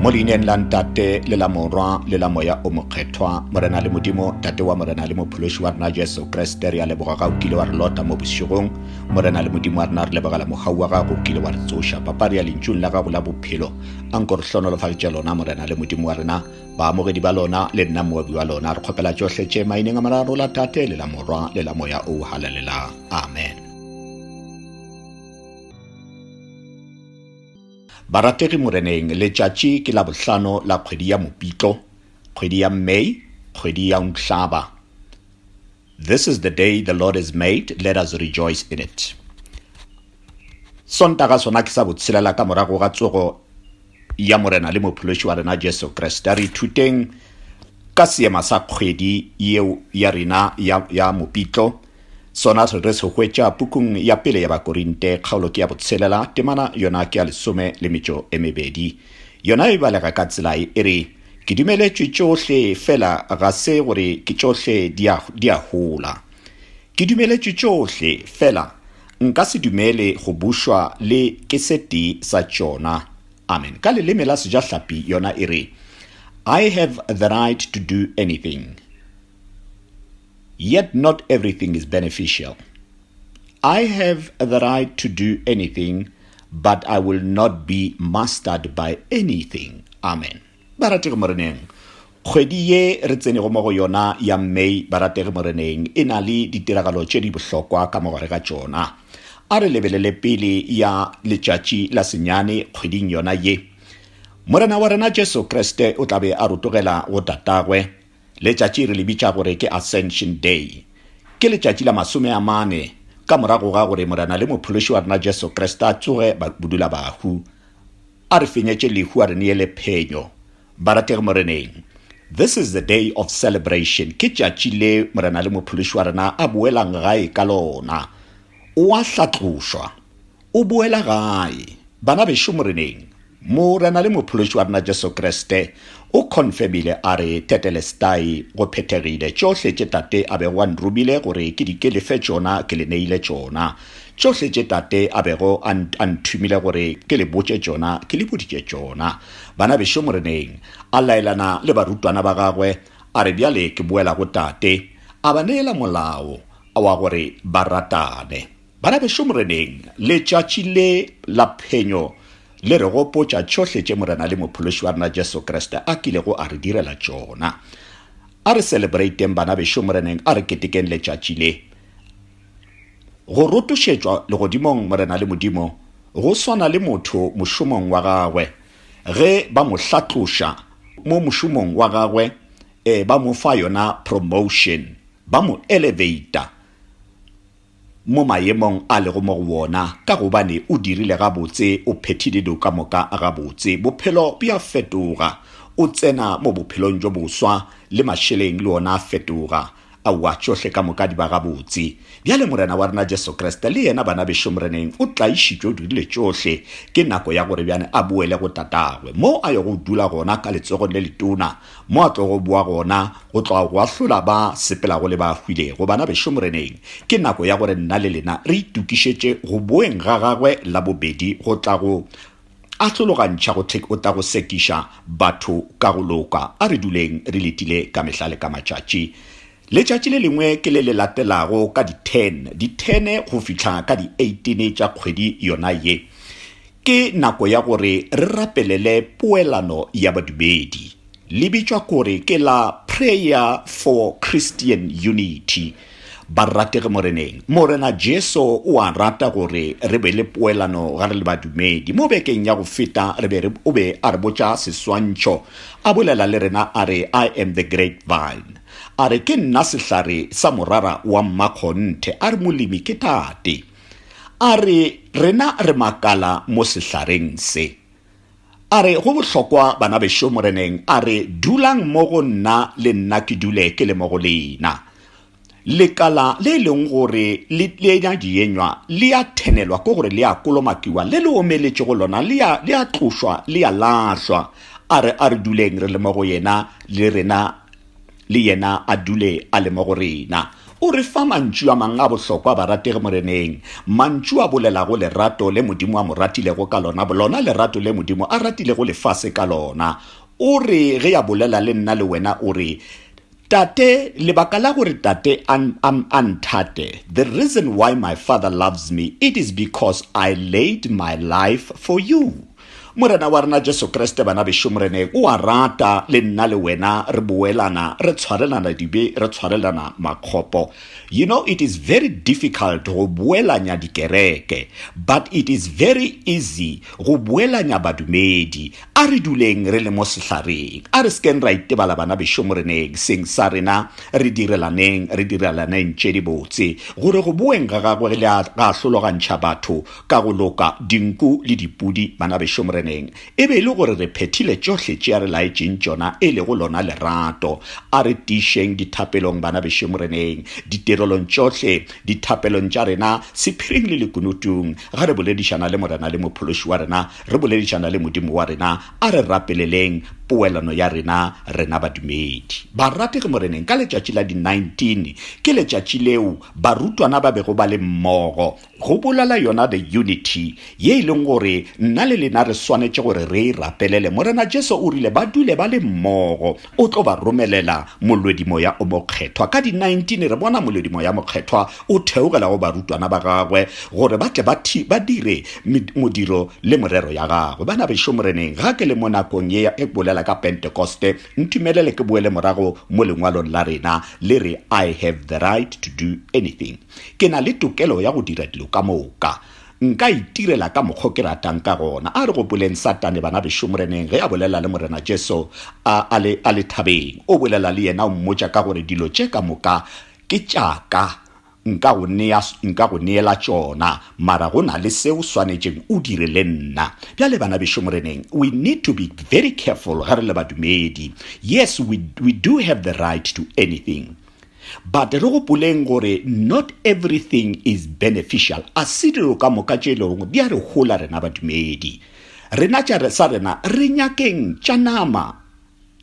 mo leineng la ntate le la morwa le la moya o mokgethwa morena le modimo tate wa morena le mophološi wa rena jesu kriste re a leboga ga o kile wa re lota mo bošegong morena le modimo wa rena re lebogela mogau wa gago o kile wa re tsoša papa re ya lentšung la gago la bophelo a nko re hlonolofaditše lona morena le modimo wa rena baamogedi ba lona le nna moabi wa lona re kgopela tšohle tše maineng a mararo la tate le la morwa le la moya o halalelang amen Barategi Moreneng, letšatši ke la bohlano la kgwedi ya Mopitlo, kgwedi ya May, kgwedi ya Nhlaba. This is the day the Lord has made, let us rejoice in it. Sontaga sona ke sa botshelela ka morago ga tsogo ya Morena le Mophološi wa rena Jesu Kriste. Re ithuteng ka seema sa kgwedi yeo ya rena ya, ya Mopitlo, Sona se re se hwetša pukung ya pele ya Bakorinte, kgaolo ke ya botshelela, temana yona ke ya lesome le metšo e mebedi. Yona e balega ka tsela ye, e re, Ke dumeletšwe tšohle, fela ga se gore ke tšohle di a, di a hola. Ke dumeletšwe tšohle, fela nka se dumele go bušwa le ke se tee sa tšona. Amen. Ka leleme la Sejahlapi yona e re, I have the right to do anything. Yet not everything is beneficial. I have the right to do anything, but I will not be mastered by anything. Amen. Barategi Moreneng, kgwedi ye re tsenego mo go yona ya May, barategi Moreneng, e na le ditiragalo tše di bohlokwa ka mogare ga tšona. A re lebelele pele ya letšatši la senyane kgweding yona ye. Morena wa rena Jesu Kriste o tla be a rotogela go tatagwe, Letšatši re le bitša gore ke Ascension Day. Ke letšatši la masome a mane ka morago ga gore Morena le Mophološi wa rena Jesu Kriste a tsoge bodulabahu, a re fenyetše lehu a re neele phenyo. Barategi Moreneng, this is the day of celebration, ke tšatši le Morena le Mophološi wa rena a boelang gae ka lona. O a hlatlošwa. O boela gae. Bana bešo Moreneng, Morena le Mophološi wa rena Jesu Kriste o confirmile a re, Tetelestai, go phethegile, tšohle tše Tate a bego a nromile gore ke di ke le fe tšona ke le neile tšona. Tšohle tše Tate a bego a, a nthumile gore ke le botše tšona ke le boditše tšona. Bana bešo Moreneng, a laelana le barutwana ba gagwe, a re, Bjale ke boela go Tate. A ba neela molao wa gore ba ratane. Bana bešo Moreneng, letšatši le la phenyo le re gopotša tšohle tše Morena le Mophološi wa rena Jesu Kriste a kilego a re direla tšona. A re celebrate'ng bana bešo Moreneng, a re ketekeng letšatši le. Go rotošetšwa legodimong Morena le Modimo go swana le motho mošomong wa gagwe ge ba mo hlatloša mo mošomong wa gagwe, ee, ba mo fa yona promotion, ba mo elevator. mo mayemong a lego mo go wona, ka gobane o dirile gabotse, o phethile dilo ka moka gabotse. Bophelo bja fetoga, o tsena mo bophelong bjo boswa, le mašeleng le ona a fetoga. Aowa, tšohle ka moka di ba gabotse. Bjale Morena wa rena Jesu Kriste, le Yena, bana bešo Moreneng, o tlaišitšwe, o dirile tšohle. Ke nako ya gore bjale A boele go Tatagwe, moo A yogo dula gona ka letsogong le letona. mo a tlogo boa gona go tloga go ahlola ba sepelago le ba hwilego. Banabešo Moreneng, ke nako ya gore nna le lena re itokišetše go boeng ga gagwe la bobedi go tla go ahlologantšha go o tla go sekiša batho ka go loka. A re duleng re letile ka mehla le ka matšatši Letšatši le lengwe ke le le latelago ka di ten, di ten go fihla ka di eighteen tša kgwedi yona ye, ke nako ya gore re rapelele poelano ya badumedi. Le bitšwa gore ke la Prayer for Christian Unity. Barategi Moreneng, Morena Jesu o a rata gore re be le poelano ga re le badumedi. Mo bekeng ya go feta re be re, o be a re botša seswantšho, a bolela le rena a re, I am the grapevine. A re ke nna sehlare sa morara wa mmakgonthe, a re molemi ke tate. A re rena re makala mo sehlareng se. A re go bohlokwa bana bešo Moreneng, a re dulang mo go nna le nna ke dule ke le mo go lena. Lekala le e leng gore le tlenya dienywa le a thenelwa ke gore le a kolomakiwa, le le omeletšego lona le a, le a tlošwa, le a lahlwa. A re a re duleng re le mo go yena le rena le yena a dule a le mo go rena. O re fa mantšu a mang a bohlokwa, Barategi Moreneng, mantšu a bolelago lerato le Modimo a mo ratilego ka lona, lona lerato le Modimo a ratilego lefase ka lona. O re ge a bolela le nna le wena, o re, Tate, lebaka la gore Tate a, a, a nthate, the reason why my Father loves me, it is because I laid my life for you. Morena wa rena Jesu Kriste, bana bešo, Moreneng o a rata le nna le wena re boelana, re tshwarelana dibe, re tshwarelana makgopo. You know, it is very difficult go boelanya dikereke, but it is very easy go boelanya badumedi. A re duleng re le mo sehlareng, a re sekeng ra itebala bana bešo, Moreneng, seng sa rena, re direlaneng, re direlaneng tše dibotse, gore go boeng ga Gagwe le a, ga a hlologantšha batho, Ka go loka, dinku le dipudi, banabešo Moreneng, e be e le gore re phethile tšohle tše a re laetšeng tšona, e lego lona lerato. A re tiišeng dithapelong, banabešo Moreneng, ditirelong tšohle, dithapelong tša rena, sephiring le lekunutung. Ga re boledišana le Morena le Mophološi wa rena, re boledišana le Modimo wa rena. A re rapeleleng poelano ya rena, rena badumedi. Barategi Moreneng, ka letšatši la di 19, ke letšatši leo barutwana ba bego ba le mmogo, Go bolala yona the Unity, ye e leng gore nna le lena re swanetše gore re e rapelele. Morena Jesu o rile ba dule ba le mmogo. O tlo ba romelela molwedimoya o mokgethwa. Ka di 19 re bona molwedimoya mokgethwa o theogela go barutwana ba gagwe gore ba tle ba thi, ba dire modiro le morero ya gagwe. Bana bešo Moreneng, ga ke le mo nakong ye ya ge ke bolela ka Pentekoste, ntumelele ke boele morago mo lengwalong la rena le re I have the right to do anything. Ke na le tokelo ya go dira dilo ka moka. Nka itirela ka mokgwa o ke ratang ka gona. A re gopoleng Satane, bana bešo, Moreneng ge a bolela le Morena Jesu a, a, le, a le thabeng. O bolela le yena, o mmotša ka gore dilo tše ka moka ke tša ka. Nka go, nea, nka go neela tšona, mara go na le se o swanetšeng o dire le nna. Bjale, bana bešo, Moreneng, we need to be very careful ge re le badumedi. Yes, we, we do have the right to anything. But re gopoleng gore not everything is beneficial, a se dilo ka moka tše lego di a re hola rena badumedi. Rena tša sa rena re nyakeng tša nama,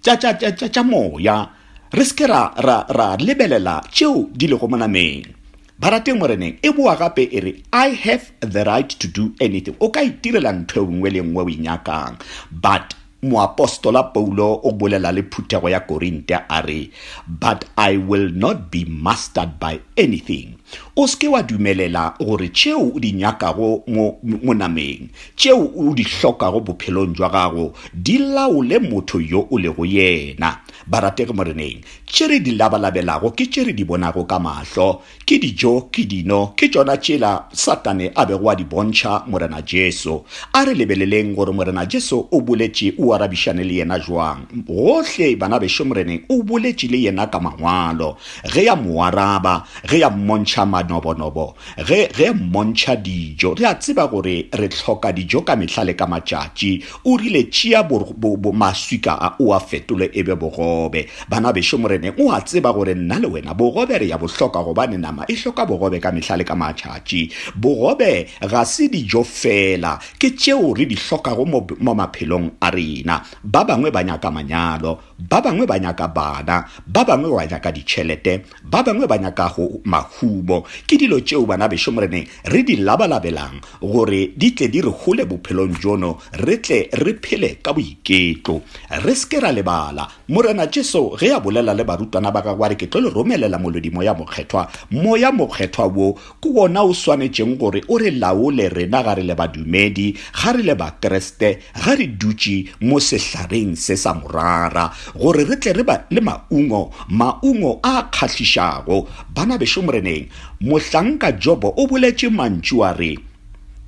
tša, tša, tša, tša, tša moya, re se ke ra, ra, ra lebelela tšeo di lego monameng. Barateng Moreneng e boa gape e re, I have the right to do anything, o ka itirela ntho e nngwe le nngwe o e nyakang, but Moapostola Paulo o bolela le phuthego ya Korinte a re, But I will not be mastered by anything. O se ke wa dumelela gore tšeo o di nyakago mo, mo nameng, tšeo o di hlokago bophelong jwa gago, di laole motho yo o lego yena. Barategi Moreneng, tše re di labalabelago ke tše re di bonago ka mahlo, Ke dijo, ke dino, ke tšona tšela Satane a bego a di bontšha Morena Jesu. A re lebeleleng gore Morena Jesu o boletše o arabišane le yena bjang. Gohle banabešo Moreneng o boletše le yena ka Mangwalo, ge ya mo araba, ge ya mmontšha manobonobo, ge, ge ya mmontšha dijo. Re a tseba gore re hloka dijo ka mehla le ka matšatši, O rile, Tšea bo, bo, bo maswika a o a fetole e be bogobe. Bana bešo, Moreneng o a tseba gore nna le wena bogobe re ya bo hloka gobane nama e hloka bogobe ka mehla le ka matšatši. Bogobe ga se dijo feela, ke tšeo re di hlokago mo, mo maphelong a rena. Ba bangwe ba nyaka manyalo, ba bangwe ba nyaka bana, ba bangwe ba nyaka ditšhelete, Ba bangwe ba nyakago mahumo ke dilo tšeo banabešo Moreneng re di labalabelang gore di tle di re hole bophelong bjono re tle re phele ka boiketlo. Re se ke ra lebala, Morena Jesu ge a bolela le barutwana ba gagwe a re ke tlo le romelela Molodi Moya Mokgethwa, Moya Mokgethwa wo Ke wona o swanetšeng gore o re laole rena ga re le badumedi, ga re le Bakriste, ge re dutše mo sehlareng se sa morara, gore re tle re be le maungo, maungo a a kgahlišago. Bana bešo Moreneng, mohlanka Jobo o boletše mantšu a re,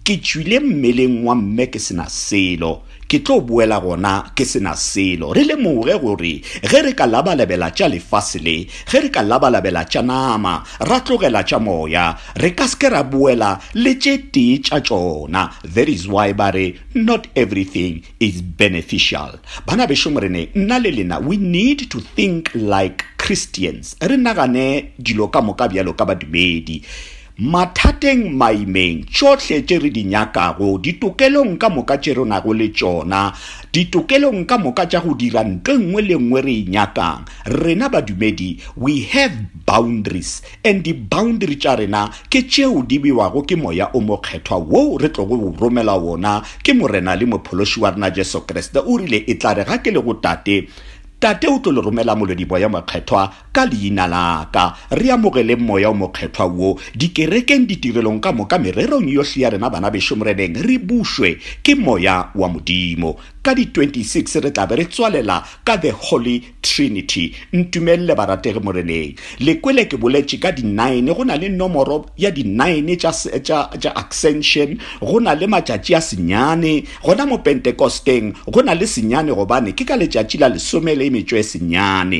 Ke tšwile mmeleng wa mme ke se na selo. Ke tlo boela gona ke se na selo. Re lemoge gore ge re ka labalabela tša lefase le, ge re ka labalabela tša nama, ra tlogela tša moya, re ka se ke ra boela le tše tee tša tšona. That is why ba re, Not everything is beneficial. Bana bešo Morene, nna le lena, we need to think like Christians, re nagane dilo ka moka bjalo ka badumedi. Mathateng, maimeng, tšohle tše re di nyakago, ditokelong ka moka tše re nago le tšona, ditokelong ka moka tša go dira nto e nngwe le e nngwe re e nyakang, rena badumedi, we have boundaries, and di-boundary tša rena ke tšeo di bewago ke Moya o Mokgethwa woo re tlogo o romelwa wona ke Morena le Mophološi wa rena Jesu Kriste. O rile, Etlare ga ke le go Tate, Tate o tlo le romela Molwediboya Mokgethwa, Ka Leina la Ka, re amogeleng Moya o Mokgethwa wo, dikerekeng, ditirelong ka moka, mererong yohle ya rena, bana bešo, Moreneng, re bušwe ke Moya wa Modimo. Ka di 26 re tla be re tswalela ka The Holy Trinity. Ntumelele, barategi Moreneng. Le kwele ke boletše ka di nine, go na le nomoro ya di nine tša, tša, tša Ascension, go na le matšatši a senyane, gona mo Pentekosteng, go na le senyane, gobane ke ka letšatši la lesome le metšo e senyane.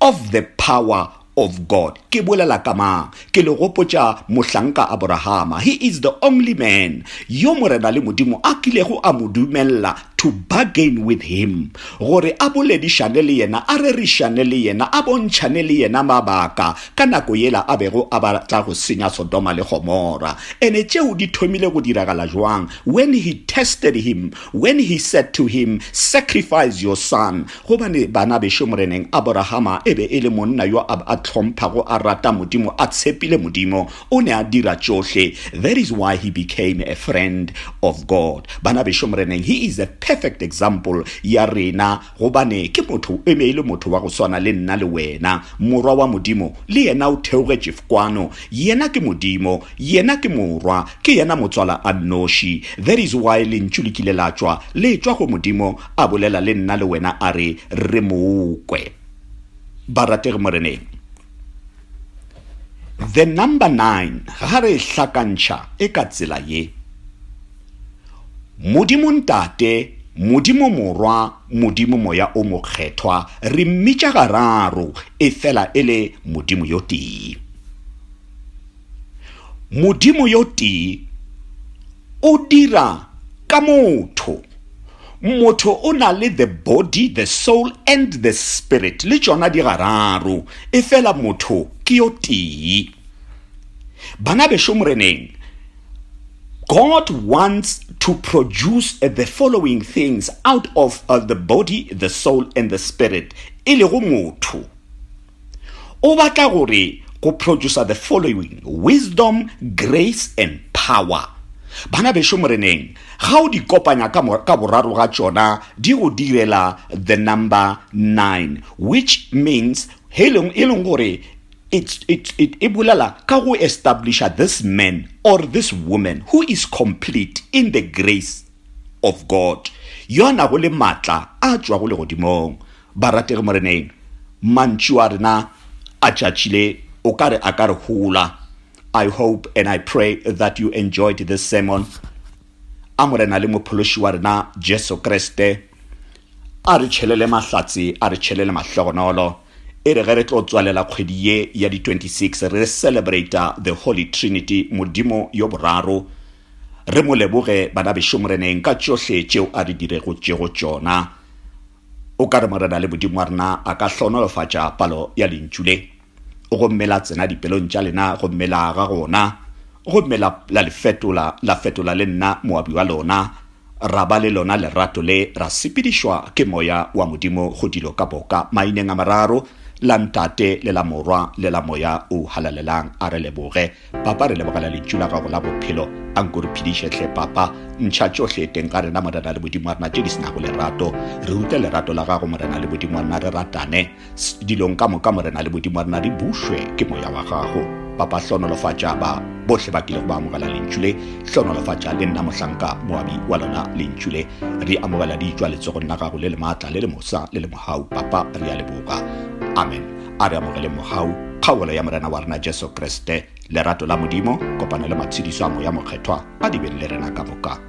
Of the power of God. Ke bolela ka mang? Ke le gopotša mohlanka Aborahama. He is the only man yo Morena le Modimo a kilego a mo dumelela to bargain with him, gore a boledišane le yena, a rerišane le yena, a bontšhane le yena mabaka ka nako yela a bego a batla go senya Sodoma le Gomora. Ene tšeo di thomile go diragala bjang? When he tested him, when he said to him, Sacrifice your son. Gobane banabeso Moreneng, Aborahama e be e le monna yo a a hlomphago, a rata Modimo, a tshepile Modimo, o ne a dira tšohle, that is why he became a friend of God. Banabeso Moreneng, he is a perfect example ya rena, gobane ke motho, e be e le motho wa go swana le nna le wena. Morwa wa Modimo, le yena o theogetše fkwano. Yena ke Modimo. Yena ke Morwa. Ke yena Motswala a nnoši. That is why Lentšu le kile la tšwa, le tšwa go Modimo, a bolela le nna le wena a re re mo kwe ba ratege moreneng the number 9 ga re hlakantšha e ka tsela ye modimo ntate modimo morwa modimo moya o mokgethwa re mmitša gararo e fela e le modimo yo tee Modimo yo tee o dira ka motho. Motho o na le the body, the soul and the spirit, le tšona di gararo, e fela motho ke yo tee. Bana bešo moreneng, God wants to produce the following things out of uh, the body, the soul, and the spirit, e lego motho. O batla gore go producer the following, wisdom, grace and power. Bana bešo Moreneng, ga o di kopanya ka, ka boraro ga tšona di go direla the number nine, which means e leng gore it, it, it, e bolela ka go establisha this man or this woman who is complete in the grace of God, yo a nago le matla a tšwago legodimong. Barategi Moreneng, mantšu a rena a tšatši le o ka re a ka re hola. I hope and I pray that you enjoyed this sermon. A Morena le Mophološi wa rena Jesu Kriste a re tšhelele mahlatse, a re tšhelele mahlogonolo, e re ge re tlo tswalela kgwedi ye ya di 26 re celebrata the Holy Trinity, Modimo yo Boraro, re mo leboge, Banabešo Moreneng, ka tšohle tšeo a re diregotšego tšona. O ka re Morena le Modimo wa rena a ka hlohonolofatša palo ya lentšu le, gomme la tsena dipelong tša lena, gomme la aga gona, gomme la, la le fetola, la fetola le nna moabi wa lona, ra ba le lona lerato le, ra sepedišwa ke Moya wa Modimo go dilo ka boka, maineng a mararo, la Ntate, le la Morwa, le la Moya o Halalelang. A re leboge. Papa re lebogela lentšu la gago la bophelo a nko re phediše hle papa ntšha tšohle teng ga rena morena le modimo wa rena tše di senago lerato re rute lerato la gago morena le modimo wa rena re ratane dilong ka moka morena le modimo wa rena re bušwe ke moya wa gago papa hlonolofatša ba bohle ba kilego ba amogela lentšu le hlonolofatša le nna mohlanka moabi wa lona lentšu le re amogela di tšwa letsogong la gago le le maatla le le mosa le le mohau papa re a leboga amen A re amogeleng mogau, kgaolo ya Morena wa rena Jesu Kriste, lerato la Modimo, kopano le matshedišo a Moya Mokgethwa a di beng le rena ka moka.